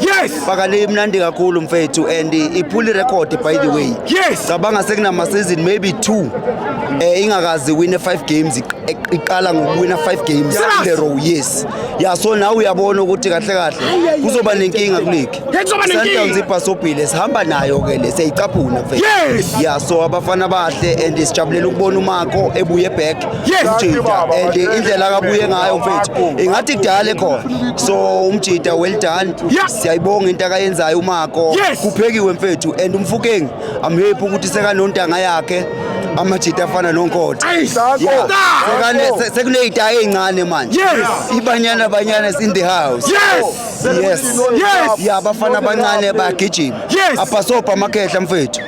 Yes. Baka le imnandi kakhulu mfethu and iphuli record by the way. Yes. Cabanga sekunama season maybe 2 eh ingakazi win 5 games iqala ngokuwina 5 games in the row yes. Yeah so now uyabona ukuthi kahle kahle kuzoba nenkinga kuligi. Kuzoba nenkinga. Sundowns ibhasobhile sihamba nayo ke le seyicaphuna mfethu. Yes. Yeah so abafana bahle and sijabulela ukubona uMako ebuye back. umjida and indlela akabuye ngayo mfethu ingathi kudala ekhona so umjida well done siyayibonga into akayenzayo umako kuphekiwe mfethu and umfukeng i'm happy ukuthi sekanontanga yakhe amajita afana nonkotha sekuneyita ezincane manje ibanyana banyana is in the house yes ya bafana abancane bayagijima apasobha amakhehla mfethu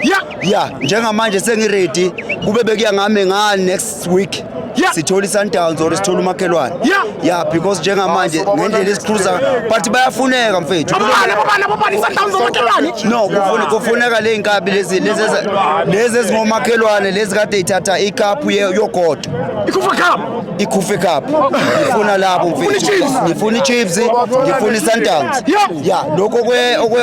ya njengamanje sengiready kube bekuya ngami nga next week Yeah. sithola i-sundowns or sithola umakhelwane Yeah. ya because njengamanje ngendlela esikhruza but bayafuneka mfethu Abobani, abobani, abobani, iSundowns omakhelwane. no kufune- kufuneka le nkabi lezi lezi eza- lezi ezingomakhelwane lezi kade ithatha ikaphu ye- yogodo Ikhufa Cup. ikhufe cup ngifuna labo mfethu ngifuna ichiefs ngifuna isundowns ya lokho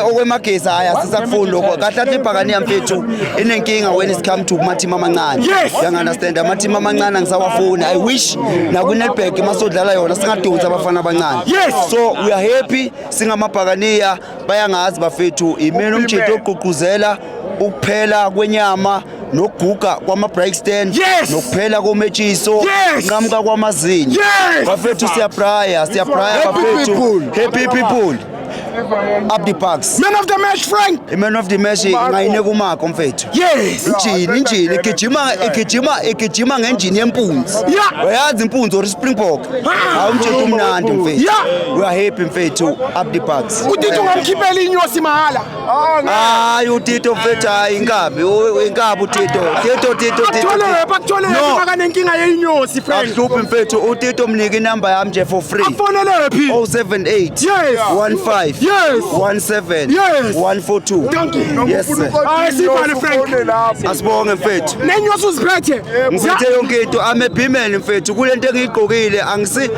okwemagesi hayi asisakufuni lokho kahle athi ibhakaniya mfethu inenkinga when it come to kumathimu amancane yangunderstand amathimu amancane angisawafuni i wish nakwinetback masodlala yona singadonsi abafana abancane so we are happy singamabhakaniya bayangazi bafethu imena umjito ogqugquzela ukuphela kwenyama nokuguga kwama-brike stand yes! nokuphela kometshiso yes! nqamuka kwamazinyo yes! bafethu siyabraya siyabraya bafethu happy people up the parks man of the match frank i-man of the match ngayine kumako mfethu yes injini injini igijima igijima igijima ngenjini yempunzi uyazi impunzi or springbok hawu mthetho umnandi mfethu we are happy mfethu up the parks udidi ungamkhiphela inyosi mahhala Hayi uTito mfethu hayi inkabi inkabi uTito Tito Tito Tito Athole bakuthole makanenkinga yeinyosi friend Ahluphi mfethu uTito mnike inamba yami nje for free Afonele phi 078 yes 15 yes 17 yes 142 Thank you Yes sir Hayi sibale friend Asibonge mfethu Nenyosi uziphethe Ngiphethe yonke into I'm a bimel mfethu kulento engiyigqokile angisi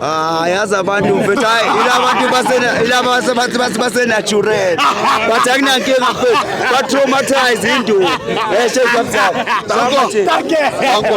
Ah, yazi abantu mfethu hayi ilabantu basena ilabantu bathi bathi basenatural. Bathi akunankinga mfethu. Ba traumatize into. Eh shey kwabzala. Danko. Danko.